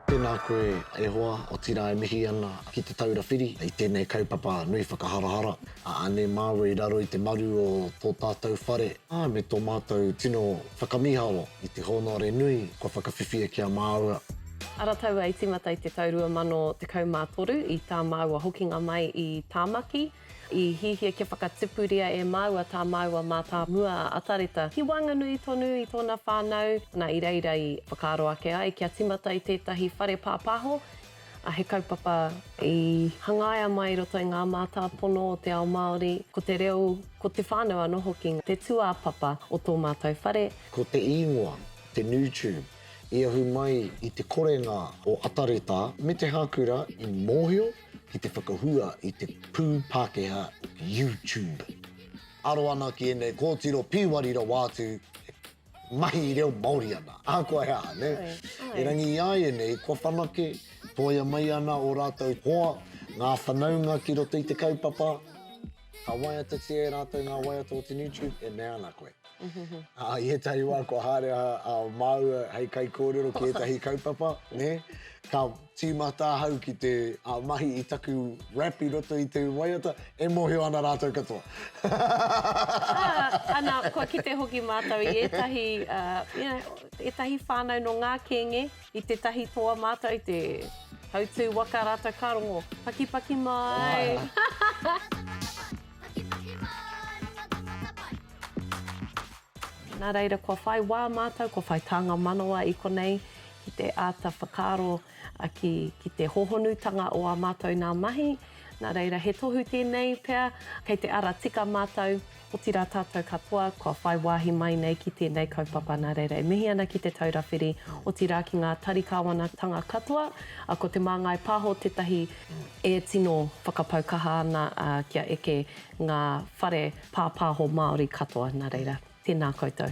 Tēnā koe e hoa, otirā e mihi ana ki Te Taura Whiri i tēnei kaupapa nui whakaharahara a Ane māua i raro i te maru o tō tātou whare, ā, me tō mātou tino whakamīharo i te hōnore nui kua whakawhiwhia ki a māua. Ara taua i tīmata i te tau 2013 i tā māua hokinga mai i Tāmaki, I hihia kia whakatipuria e māua tā māua mātāmua a Atareta ki waenganui tonu i tōna whānau, nā, i reira i whakaaro ake ai kia tīmata i tētahi whare pāpāho, ā, he kaupapa i hangaia mai i roto i ngā mātāpono o te ao Māori, ko te reo, ko te whānau anō hoki te tūāpapa o tō mātou whare. Ko te īngoa, te Newtube, i ahu mai i te korenga o Atareta me te hākura i mōhio, ki te whakahua i te pū Pākehā YouTube. Aro ana ki ēnei kōtiro pīwari rawa atu e mahi reo Māori ana, ahakoa he aha, nē? Erangi i a ēnei kua whanake, toia mai ana ō rātou hoa, ngā whanaunga ki roto i te kaupapa, ka waiatatia e rātou ngā waiata o te YouTube, e mea ana koe. Ā, i ētahi wā kua haere a, a māua hei kaikōrero ki ētahi kaupapa, nē? Ka tīmata ahau ki te a, mahi i taku rap i roto i te waiata, e mōhio ana rātou katoa. Ā, ana, kua kite hoki mātou i ētahi, ā, you know, ētahi whānau nō ngā kēnge, i tētahi toa mātou, i te hautū waka rātou ka rongo, Pakipaki mai! Rongo tata pai, pakipaki mai, rongo tata pai. Nā reira, kua whai wā mātou, kua whai tānga manawa i konei ki te āta whakaaro ki te hōhonutanga o ā mātou nā mahi. Nā reira, he tohu tēnei pea, kei te ara tika mātou, otirā tātou katoa, kua whai wāhi mai nei ki tēnei kaupapa. Nā reira, e mihi ana ki Te Taura Whiri, otirā ki ngā tari kāwanatanga katoa. Ko Te Māngai Pāho tētahi e tino whakapau kaha ana kia eke ngā whare Pāpāho Māori katoa, nā reira, tēnā koutou.